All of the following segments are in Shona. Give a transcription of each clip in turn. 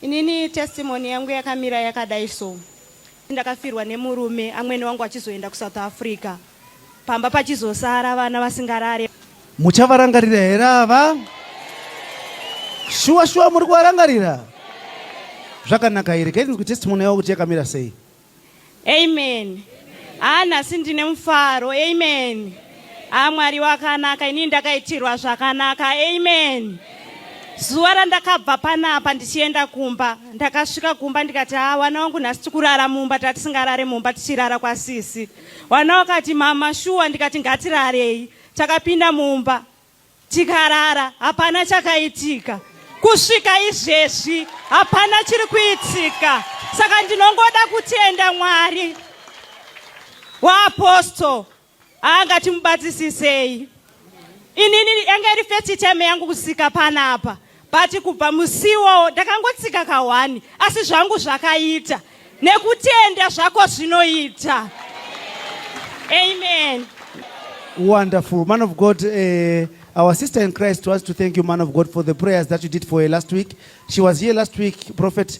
Inini testimony yangu yakamira yakadai so ndakafirwa nemurume amwene wangu achizoenda kusouth africa pamba pachizosara vana vasingarare muchavarangarira here ava shuwa shuwa muri kuvarangarira zvakanaka here kaiti ndikutestimony yavo kuti yakamira sei Amen. Haa nhasi ndine mufaro. Amen. Haa Mwari wakanaka inini ndakaitirwa zvakanaka. Amen. Zuva randakabva panapa ndichienda kumba ndakasvika kumba ndikati haa wana wangu nhasi tikurara mumba tatisingarare mumba tichirara kwasisi. Wana wakati mama shuwa ndikati ngatirarei. Takapinda mumba. Tikarara hapana chakaitika. Kusvika izvezvi hapana chiri kuitika. Saka ndinongoda kutenda Mwari waapostle anga timubatsisisei. Inini yanga iri first time yangu kusika panapa. but kubva musiwo ndakangotsika kahwani asi zvangu zvakaita nekutenda zvako zvinoita amen wonderful man of god uh, Our sister in Christ wants to thank you, man of God, for the prayers that you did for her last week. She was here last week, Prophet.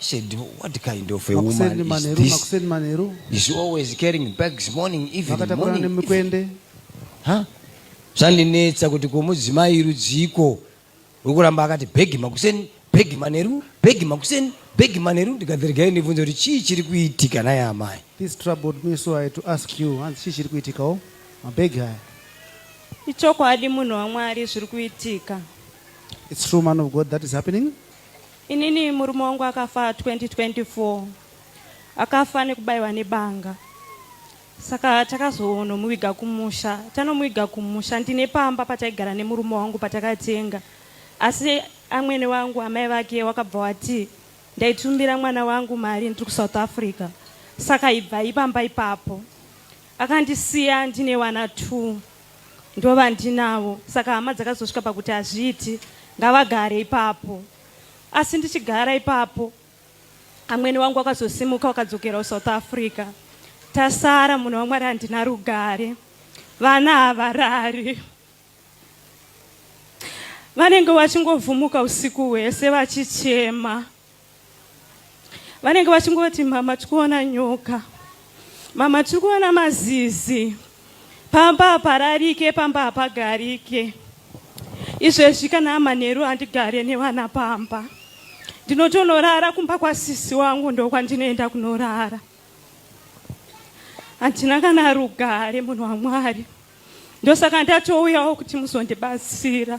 Said, what kind of a woman makuseni is manheru this? makuseni manheru Is she always carrying bags morning, evening, vakatakurana morning, evening? nemikwende Ha? Zvandinetsa kuti ko mudzimai rudziiko wekuramba akati bhegi makuseni, bhegi manheru, bhegi makuseni, bhegi manheru ndikati regai ndibvunze kuti chii chiri kuitika nhai amai? this troubled me so i had to ask you hanzi chii chiri kuitikawo mabhegi haya Ichokwadi munhu waMwari zviri kuitika. its true man of god that is happening Inini murume wangu akafa 2024 akafa nekubaiwa nebanga saka takazonomuviga kumusha tanomuviga kumusha ndine pamba pataigara nemurume wangu patakatenga asi amwene wangu amai vake wakabva wati ndaitumbira mwana wangu mari ndiri kusouth africa saka ibvai pamba ipapo Akandisiya ndine vana two ndovandinavo saka hama dzakazosvika pakuti hazviiti ngavagare ipapo asi ndichigara ipapo amwene wangu wakazosimuka wakadzokera kusouth africa tasara munhu wamwari handina rugare vana havarari vanenge vachingovhumuka usiku hwese vachichema vanenge vachingoti mama tiri kuona nyoka mama tiri kuona mazizi pamba hapararike pamba hapagarike izvezvi kana amanheru handigare nevana pamba ndinotonorara kumba kwasisi wangu ndokwandinoenda kunorara handina kana rugare munhu wamwari ndosaka ndatouyawo kuti muzondibatsira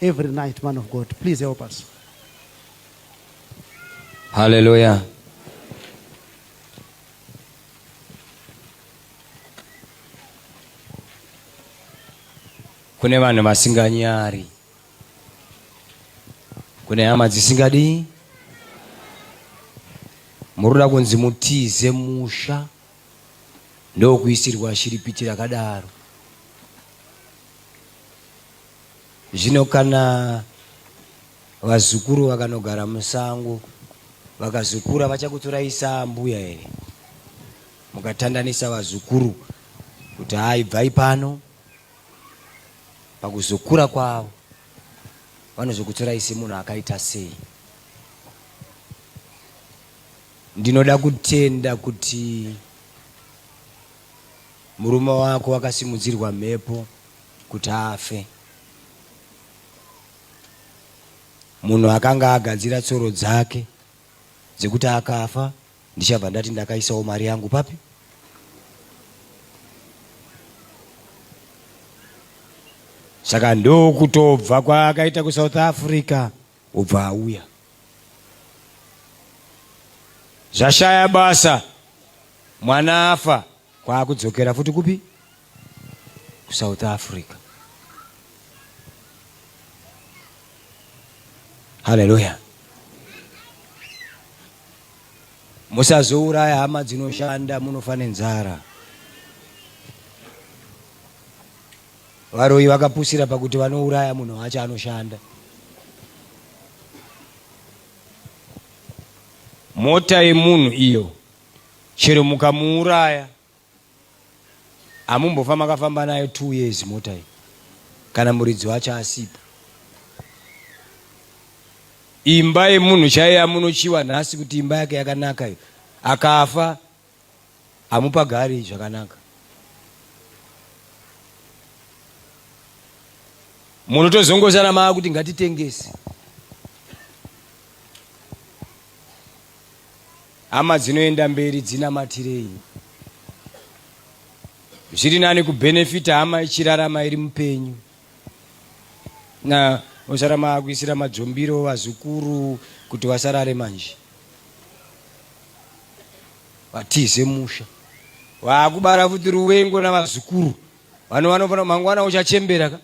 every night man of God please help us Hallelujah kune vanhu vasinganyari kune hama dzisingadii muri kuda kunzi mutize musha ndokuisirwa shiripiti rakadaro Zvino kana vazukuru vakanogara musango vakazokura vachakutorai saambuya here mukatandanisa vazukuru kuti hayi bvai pano pakuzokura kwavo vanozokutorai semunhu akaita sei ndinoda kutenda kuti murume wako wakasimudzirwa mhepo kuti afe. Munhu akanga agadzira tsoro dzake dzekuti akafa ndichabva ndati ndakaisawo mari yangu papi? Saka ndokutobva kwaakaita kuSouth Africa obva auya. Zvashaya basa mwana afa Kwaakudzokera futi kupi? KuSouth Africa. Haleluya. Musazouraya hama dzinoshanda munofa nenzara. Varoyi vakapusira pakuti vanouraya munhu wacho anoshanda. Mota yemunhu iyo chero mukamuuraya hamumbofa makafamba nayo two years mota iyi kana muridzi wacho asipo imba yemunhu chaiye amunochiwa nhasi kuti imba yake yakanaka iyo akafa hamupagari zvakanaka munotozongozana maa kuti ngatitengese Hama dzinoenda mberi dzinamatirei. Zviri nani kubenefita hama ichirarama iri mupenyu. Na osara maakuisira madzombiro vazukuru kuti vasarare manje. Vatize musha. Waakubara futi ruvengo navazukuru. Vanhu vanofanira mangwana uchachembera ka.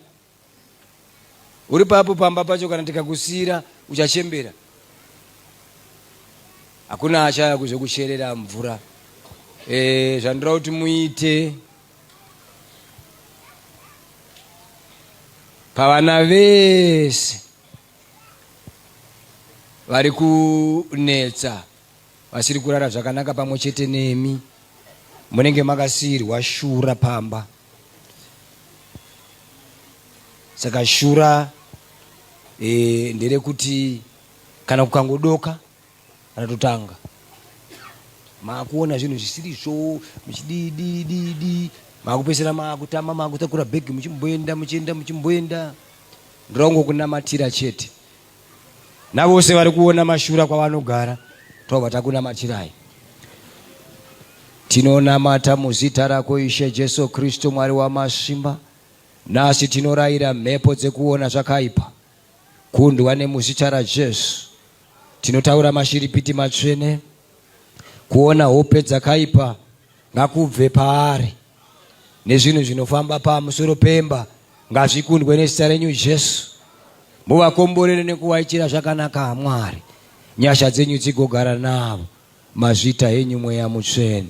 uri papo pamba pacho kana tikakusiira uchachembera hakuna achaya kuzokucherera mvura e, zvandoda kuti muite pavana vese vari kunetsa vasiri kurara zvakanaka pamwe chete nemi munenge makasiirwa shura pamba saka shura e, nderekuti kana kukangodoka ratotanga maakuona zvinhu zvisiri zvo muchididididi maakupesera maakutama maakutakura bhegi muchimboenda muchienda muchimboenda ndongokunamatira chete navose vari kuona mashura kwavanogara tobva takunamatirai tinonamata muzita rako ishe jesu kristu mwari wamasimba nhasi tinorayira mhepo dzekuona zvakaipa kundwa nemuzita rajesu tinotaura mashiripiti matsvene kuona hope dzakaipa ngakubve paari nezvinhu zvinofamba pamusoro pemba ngazvikundwe nezita renyu jesu muvakomborere nekuvaitira zvakanaka amwari nyasha dzenyu dzigogara navo mazvita henyu mweya mutsvene